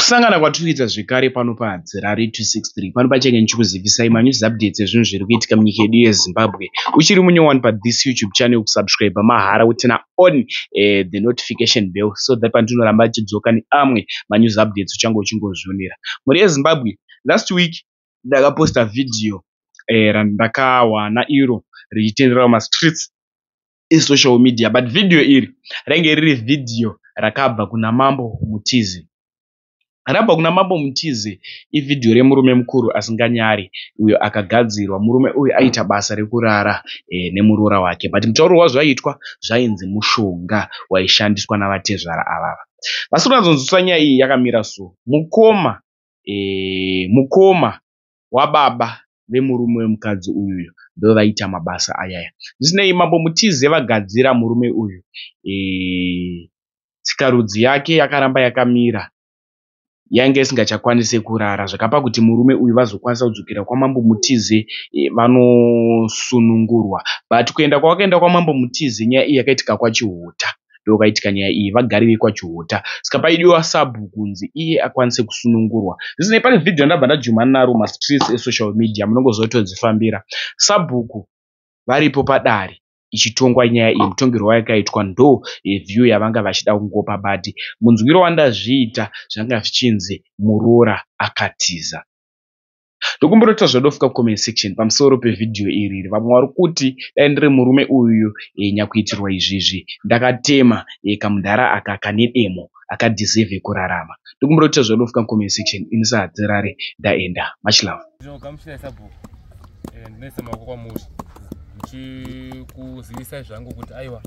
kusangana kwatiri kuita zvekare pano pahadzirari 263 pano pachenge ndichikuzivisai manews updates ezvinhu zviri kuitika munyika yedu yezimbabwe uchiri munyowani pathis youtube channel kusubscribe mahara utina on uh, the notification bell so that pandinoramba achidzoka neamwe manews updates uchange uchingozvionera mhuri yezimbabwe last week ndakaposta vhidhiyo eh, randakawana iro richitenderera mumastreets esocial media but vhidhiyo iri rainge riri vhidhiyo rakabva kuna mambo mutizi rabva kuna mambo mutizi ivhidhiyo remurume mukuru asinganyari uyo akagadzirwa murume uyu aita basa rekurara e, nemuroora wake but mutauro wazvaiitwa zvainzi mushonga waishandiswa navatezvara avava vasiri kunyatsonzwisisa nyaya iyi yakamira so mukoma e, mukoma wababa vemurume wemukadzi uyuyo ndovaiita mabasa ayaya zvisinei mambo mutize vagadzira murume uyu e, tsikarudzi yake yakaramba yakamira yainge isingachakwanise kurara zvakapa kuti murume uyu vazokwanisa kudzokera kwamambo mutize e, vanosunungurwa but kuenda kwavakaenda kwamambo mutize nyaya iyi yakaitika kwachihota e, ndopakaitika nyaya iyi vagari vekwaChihota saka paidiwa sabhuku kunzi iye akwanise kusunungurwa zvisinei pane vhidhiyo randabva ndajumana naro mumastreets esocial media munongoziva kuti todzifambira sabhuku varipo padare ichitongwa nyaya iyi mutongerwo wayakaitwa ndo view yavanga vachida kungopa but munzwiro wandazviita zvanga zvichinzi muroora akatiza ndokumbonoita zvodofuka kucomment section pamusoro pevhidhiyo iri iri vamwe vari kuti dai ndiri murume uyu e, eh, nyakuitirwa izvizvi ndakatema e, kamudhara aka kane demo akadiseve kurarama ndokumbonoita zvodofuka kucomment section ini sahadzirare ndaenda much love ndinoisa maoko kwamuri ndichikuzivisai zvangu kuti aiwa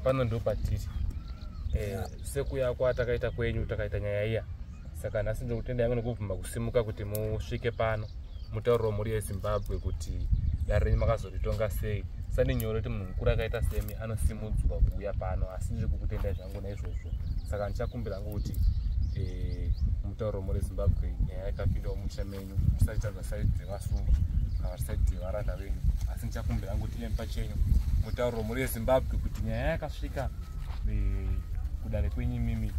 pano ndopatiri sekuya kwatakaita kwenyu takaita nyaya iya saka nhasi ndokutenda yangu nekubvuma kusimuka kuti musvike pano mutauriro mhuri yezimbabwe kuti dare renyu makazoritonga sei sani nyore kuti munhu mukuru akaita semi anosimudzwa kuuya pano asi ndiri kukutendai zvangu naizvozvo saka ndichakumbira hangu kuti eh, mutauriro mhuri yezimbabwe nyaya yakapindawo musha menyu musachitadza saidi dzevasungwa kana saidi dzevaranda venyu asi ndichakumbira hangu kuti iyemi pachenyu mutauriro mhuri yezimbabwe kuti nyaya yakasvika yeah, kudare kwenyu imimi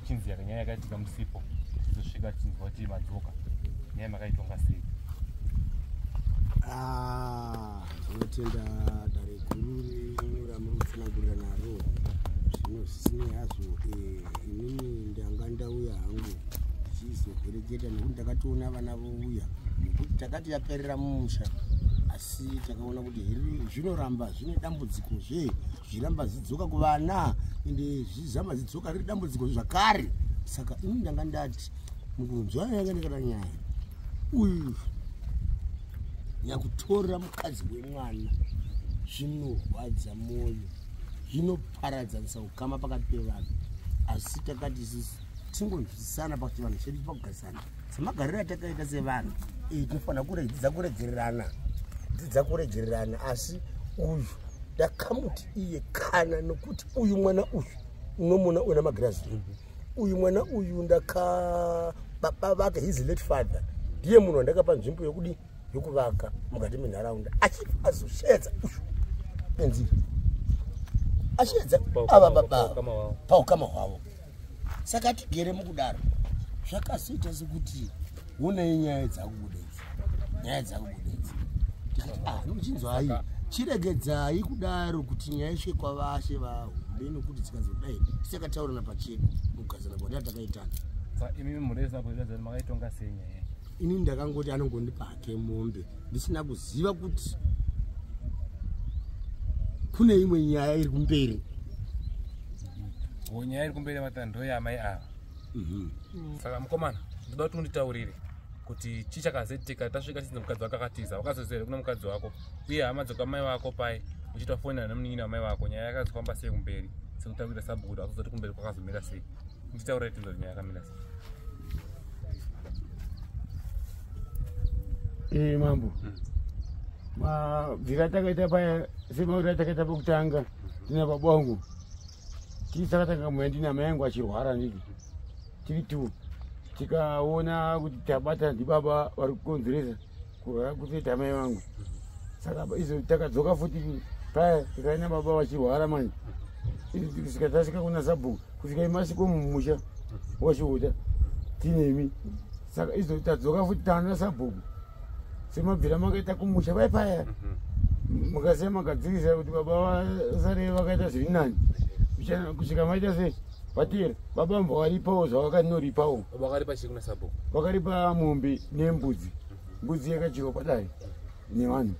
ichinzi yakanyaya yakaitika musipo tizosvika tichinzwa kuti madzoka nyaya makaitonga sei zvinotenda ah, dare guru renyu ramuri kutsanangurira naro zvino zvisinei hazvo eh, inini ndanga ndauya hangu tichizovereketa nekuti ndakatoona vana vouya nekuti takati yaperera mumusha asi takaona kuti here zvinoramba zvine dambudziko zvee zviramba zidzoka kuvana ende zvizama zidzoka riri dambudziko zvakare saka ini ndanga ndati mukunzwa yanga ndikata nyaya uyu nyakutora mukadzi wemwana zvinorwadza mwoyo zvinoparadzanisa ukama pakati pevanhu asi takati sisi tingonzwisisana pakuti vanhu chedu pakugarisana semagariro atakaita sevanhu iyi tinofanira kudzidza kuregererana dzidza kuregererana asi uyu ndakamuti iye kana nokuti uyu mwana uyu unomona una magirazi uyu mwana uyu ndaka baba vake his late father ndiye munhu wandakapa nzvimbo yokudii yokuvaka mukati menharaunda achibva azosheedza ushu penzira achiedza ava baba paukama hwavo saka tigere mukudaro zvakazoita sekuti wonei nyaya dzakubuda idzi nyaya dzakubuda idzi tikati ah nochinzwai chiregedzai kudaro kuti nyaya isvike kwavashe vahombe nokuti dzikazodai tisakataurana pachedu mukugazana kwatata takaitana imi mureza kuivezani makaitonga sei nyaya ini ndakangoti anongondipa hake mombe ndisina kuziva kuti kune imwe nyaya iri kumberi nyaya iri kumberi vatandoi amai ava mhm. saka mukomana ndoda kuti unditaurire kuti chii chakazetika tasvika tizi mukadzi wako akatiza wakazozere kuna mukadzi wako uye hama dzokwamai vako pai uchiita fonera nemunin'ina wamai vako nyaya yakazofamba sei kumberi sekutaurira sabhukudo akuzoti kumberi kwakazomira sei nditaurira tinzori nyaya yakamira sei ee eh, mambo hmm. mabvira atakaita paya semauri atakaita pakutanga ndina baba wangu tii sakatanga mweya ndina mai yangu achirwara ndiki tiri two tikaona kuti tabata ndibaba vari kukonzeresa kuzoita mai vangu saka izo takadzoka futi paya tikave nababa vachirwara manje kusvika tasvika kuna sabhuku kusvika imasiko mumusha wasviuta tinemi saka izo tadzoka futi taana sabhuku semabvira makaita kumusha vai paya mhm. mukasiya magadzirisa kuti baba vasare vakaita zviri nani kusvika maita sei vatiri baba mva waripawo zvavakanoripawo vakaripa chii kuna sabhuku vakaripa mombe nembudzi mbudzi yakadyiwa kwadai nevanhu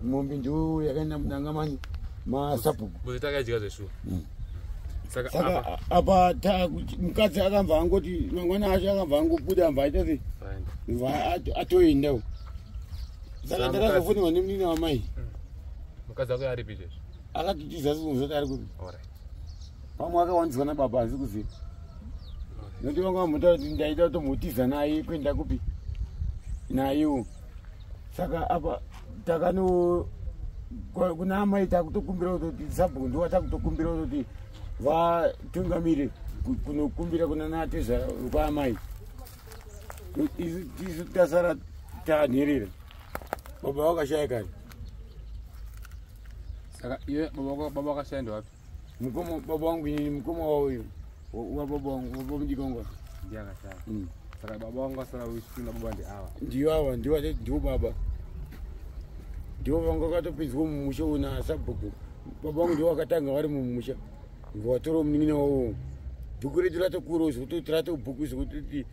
mombe ndiwo yakaenda mudanga mani masabhuku mbudzi takadya zveshuwa mm. saka apa mukadzi akamva angoti mangwana acho akamva angobuda mva aita se mva atoendawo saka ndakazofonirwa nemnini wamai mm. mukadzi ako aripi izvezvi akatitiza sikunzoti ari kupi pamwe akawanzwa nababa asi kuziva nokuti vanga vamuta kuti ndaida kutomutiza naye kuenda kupi nayewo saka apa takano kuna amai takutokumbira kutoti sabhuku ndiwa takutokumbira kutoti vatungamire kunokumbira kuna nateza kwaamai isu tasara tanherera baba vakashaya kani saka iwe baba vakashaya ndewapi mukoma baba wangu ini mukoma wao uyu wababa wangu baba mudikongwa ndiye akashaya mm. saka baba wangu asara uchitinda baba ndi ava ndiyo ava ndiwo atati ndiwo baba ndiwo vanga vakatopinzwa mumusha una sabhuku baba wangu ndiwo akatanga vari mumusha ndiwatora munin'ina wavo bhuku redu ratokurawo zvekutoti ratobhuku zvekutoti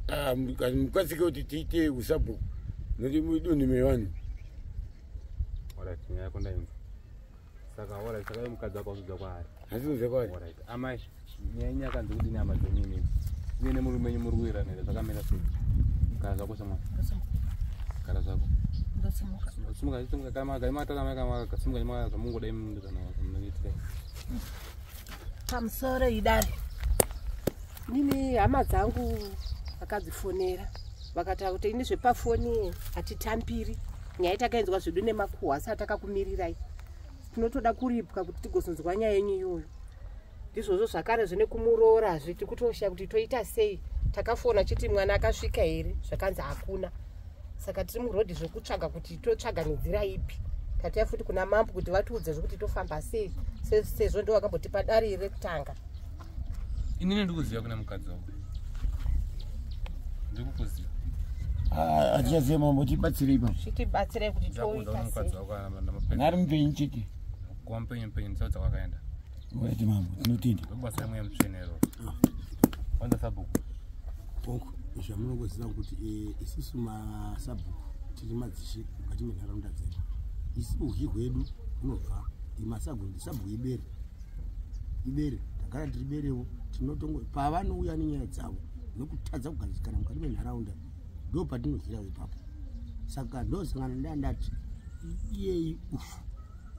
ah, mukasike kuti tiite usabhuku noti mudunhu mevanhu nyaya yako ndainza saka ora saka ye mukadzi wako uzudza kwaari asi uzudza kwaari ora amai nyaya nyaya kanzi kuti nyama dzenyu imi iye ne murume nyu muri kuira nere zvakamira sei kana zvako sama kana zvako ndasimuka simuka simuka kana maga imata kana maga maga kasimuka nyama za mungu dai mundu kana munitse pamusoro idari mimi hama dzangu vakadzifonera vakataura kuti ini zvepafoni hatitambiri nyaya takainzwa zvedu nemakuhwa asi atakakumirirai tinotoda kuripwa kuti tigozonzwa nyaya yenyu iyoyo ndizvozvo zvakare zvine kumuroora zve tiri kutoshaya kuti toita sei takafona chiti mwana akasvika here zvakanzi hakuna saka tiri murodhi zvekutsvaga kuti totsvaga nenzira ipi tataya futi kuna mambo kuti vatiudze zvekuti tofamba sei sezvo ndo vakambotipa dari rekutanga inini ndikuziva kuna mukadzi wako ndikukuziva ah, atichaziva mambo tibatsire ipa zvitibatsire kuti toitasei nari mupenyu chete kuva mupenyu mupenyu ndisaudza kwakaenda wati mambo tinotenda ndobasa yamweya mutsvenero kwanza sabhuku bhuku zvamunongoziva kuti eh, isusu masabhuku tiri madzishe mukati menharaunda dzedu isi uhi hwedu hunobva imasabhuku ndisabhuku iberi ibere ndagara ndiri berewo tinotongo pavanouya nenyaya dzavo nekutadza kugadzikana mukati menharaunda ndo patinozira ipapo saka ndosangana ndaa ndati iyeyi ufu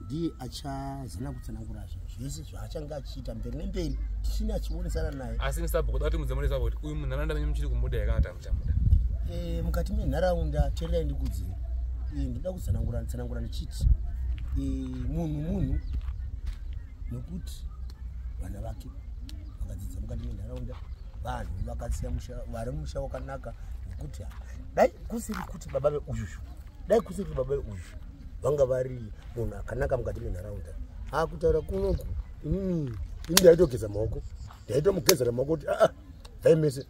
ndiye achazana kutsanangura zvo zvese zvaachange achiita mberi nemberi tisina achionesana naye asi msabhokoda kuti mudzemonesa kuti uyu munharaunda menyu muchiri kumuda yakata Eh, mukati menharaunda tererai ndikudzei eh, ndoda kutsanangura tsanangura ndichiti eh, munhu munhu nokuti vana vake vakadzidza mukati menharaunda vanhu vakasiya musha vari musha wakanaka nekuti dai kusiri kuti baba veuyu dai kusiri kuti baba veuyu vanga vari munhu akanaka mukati menharaunda akutaura kunoku inini ini ndaitogeza maoko ndaitomugezera maoko kuti aa bvai mese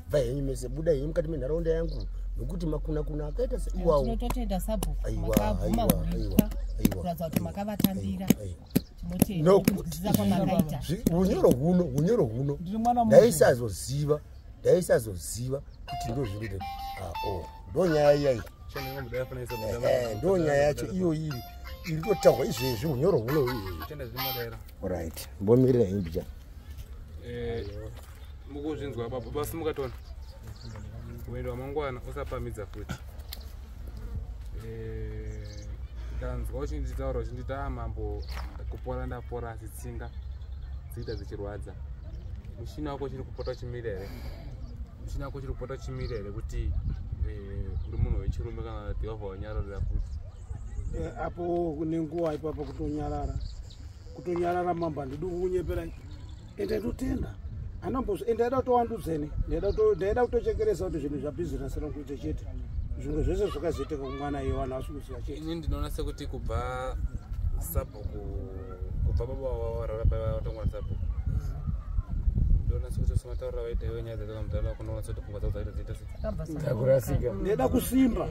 bvai henyu mese buda henyu mukati menharaunda yangu nokuti makuna kuna akaita seiwawotinototenda sabhukurakabvumakuratidza kuti makavatambira unyoro huno unyoro huno ndaisazoziva ndaisazoziva kuti ndozviri a ah, o oh, ndonyaya iyaii ndo nyaya yacho iyo iri iri kutaurwa izvezvi unyoro huno uirit mbomirira imbija eh, mukuzvinzwa baba basi mukatona kuenda wamangwana usapamidza futi eh, ndanzwa uchinditaura uchindita ah, mambo kupora ndapora asi tsinga dziita dzichirwadza mushina wako chiri kupota uchimira here chinako chiri kupota chimira here kuti eh, uri munhu wechirume kana kuti wabva wanyararira futi eh, apo kune nguva ipapa kutonyarara kutonyarara mambo handidi kukunyepera ende ndotenda anambozo ende aida kutowandudzeni ndaida kutochekeresa kuti zvinhu zvabhizinesi rokuita chete zvimwe zvese zvakazoitika kumwana iye vanhu vasikuziva chete ini ndinoona sekuti kubva sub kubva baba vavarara paiva vatongwa sapo ndonasikutosimataurira vaita iwe nyaya dzataka mudhara wako ndonasa kuti pfungwa dzako dzaita dziita sekurasika ndeda kusimba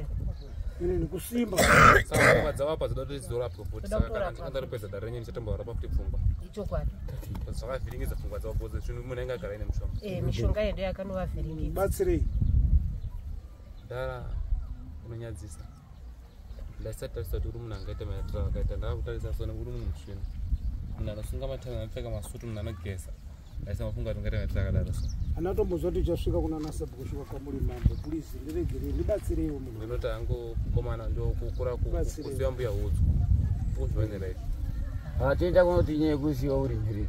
inini kusimba saka pfungwa dzavapa dzida kuti dzidorapwa futi saka kana ndingandaripedza dare renyu ndichatomborapa futi pfungwa ichokwadi zvakavhiringidza pfungwa dzavo boze zvinhu munhu ainge agara ine mushonga eh, mishonga yedu yakanovavhiringidza batsirei dara unonyadzisa ndaisati tarisa kuti uri munhu angaita maitiro akaita ndava kutarisa so nekuti munhu musvina munhu anosunga matanga anopfeka masutu munhu anogeza ndaisa mafunga kuti ungaita maitiro akadaro so anatombozva kuti uchasvika kuna nasabu kusvika kwamuri mambo plizi ndiregere ndibatsireiwo munhu ndinoti angu komana ndokukura kuziva mbuya hudzwa uzvivanira izvi hatiita kunoti nyaya yekuziva uri mhiriri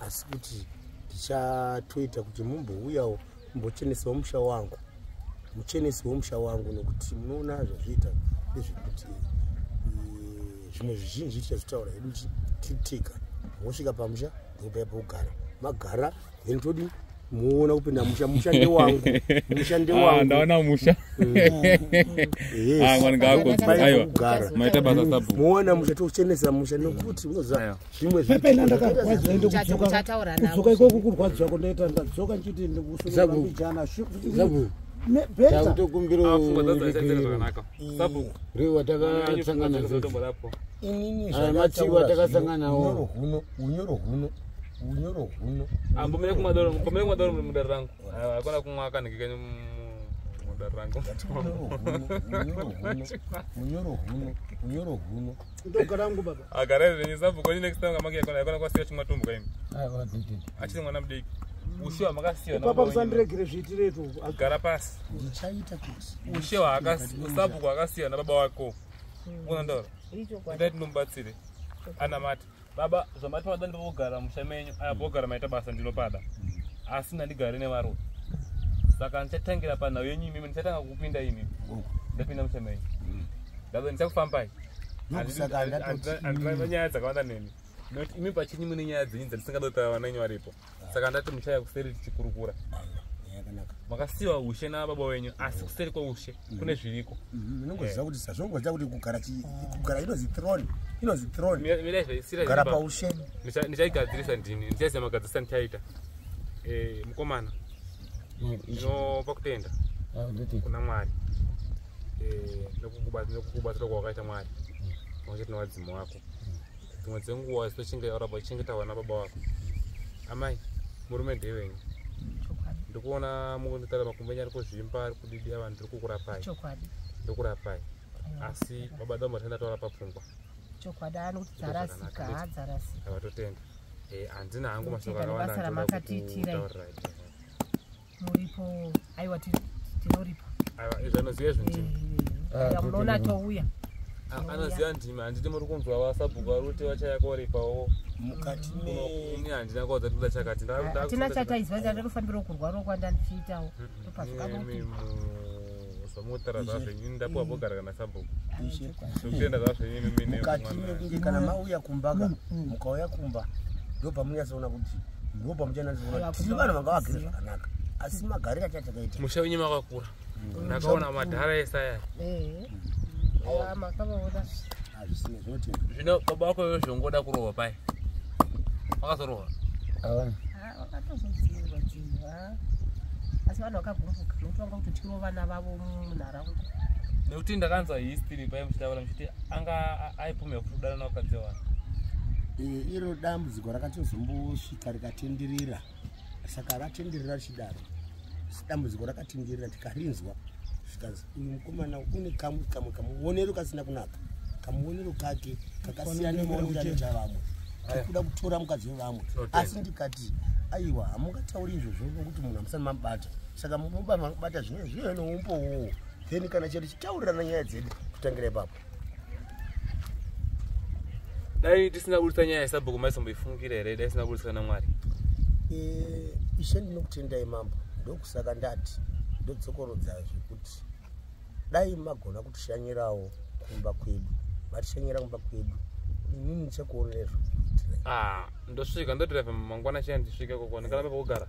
asi kuti ndichatoita kuti mumbouyawo mumbochenesawo musha wangu muchenesi wemusha wangu nokuti munoona zvazviita ndezvekuti eh, zvimwe zvizhinji tichazvitaura hedu titika wosvika pamusha ndopaya pokugara magara then todii muona kupinda musha musha ndewangu musha ah, ndewangu ndaona musha ah, ngaakoaiwa maita basa sabu muona musha tochenesa musha nekuti unoziva zvimwe zvipena ndakarwadziwa ende kudzoka kudzoka ikoko kurwadziwa kundaita ndadzoka ndichiti ndikusungaijana sabu betakutokumbirorewatakasanganamatiwa takasanganao unyoro huno unyoro huno ambomira kumadoro mbomira kumadoro mudare rangu hakuna kumwa kanhiki kenyu mudare rangu unyoro huno unyoro huno ndogarangu baba agara renyu sabhuku kwenyu next time kamake yakona yakona kwasiya chimwa tumbu kaimi achiri mwana mudiki ushewa makasiya papa musandiregere zviitiretu gara pasi ndichaita kusi ushewa sabhuku akasiya nababa wako unandaura ndai tinomubatsire anamati baba zvamati mada ndikugara musha menyu aya bogara maita basa ndinopada asi ndandigare nevaroyi saka ndichatangira panhau yenyu imimi ndichatanga kukupinda imimi ndapinda musha menyu ndabe ndichakufambai andivanyaya dzakawanda neni nokuti imi pachinyi mune nyaya dzenyu dzandisingade kutaura vanenyu varipo saka ndati muchaya kuseri tichikurukura makasiwa ushe nababa wenyu asi kuseri kweushe mm. kune zviriko mm, inongoziva kuti sazvongoziva kuti kugara kugara inozi throne inozi throne kugara paushe ndichaigadzirisa ndini ndichaziva magadzirisa ndichaita eh, mukomana mm, ndinopa kutenda ah, kuna mwari eh, nekukubatsira kwawakaita mwari makuchati newadzimu wako dzimwe dzenguva especially yaura about chinge taura nababa wako amai murume ndevenyu ndikuona mukunditarira makumbenya ari kuzvimba ari kudidi avanhu ndiri kukurapai ndokurapai asi baba damba tenda taura papfungwa chokwadi ari kuti dzarasika hadzarasika vatotenda eh, handina hangu mashoko akawanda ndinoda kutaurira muripo aiwa tinoripa aiwa izvi anoziva izvi ndimi ah, munoona atouya ah, anoziva ndimi handiti muri kunzwa vasabhuku vari kuti vachayakoripawo mukati ini handina kwaudza tikuda chakati hatina ah, chataizwa ndandofambirawo kurwarawo kwandandichiitawo ndopazvikamuti Usamutara zvazvo ini ndapuwa mm. bogara kana sabhuku. Ndokutenda zvazvo ini mimi ne mwana. Mukati mekunge kana mauya kumba ka mm, mm. mukauya kumba ndopamunyasoona kuti ndopa muchanazivona tiri vanhu vanga vagere zvakanaka asi magariro achatakaita musha wenyu makakura ndakaona madhara esaya zvino baba wako yozvongoda kurohwa pai wakazorohwa vakatozodziirwa dzirwa asi vanhu vakagumbuka nokuti vanga kutotyirwa vana vavo munharaunda nekuti ndakanzwa history paye muchitaura muchiti anga aipumira kuti kudana naukadzi wani iro dambudziko rakatozombosvika rikatenderera saka ratenderera richidaro dambudziko rakatingirira tikarinzwa zvikanzi uyu mukomana une kamwe kamwe kamuonero kasina kunaka kamuonero kake kakasiyana nemaonero anoita vamwe tikuda kutora mukadzi wevamwe asi ndikati aiwa hamungatauri izvozvo nokuti munhu hamusani mabata saka mubata zvinoe zvinoe noumbowowo then kana chete chitaurirana nyaya dzedu kutangira ipapo dai tisina kuritsa nyaya yesabhuku maisomboifungukira here dai tisina kuritswa namwari eh, ishe ndinokutendai mambo ndokusaka ndati ndodzokorodzazve kuti dai magona kutishanyirawo kumba kwedu vatishanyira kumba kwedu inini ndichakuonerezvo ah, ndosvika ndotireva mangwana chena ndisvike kokwana kana papa kugara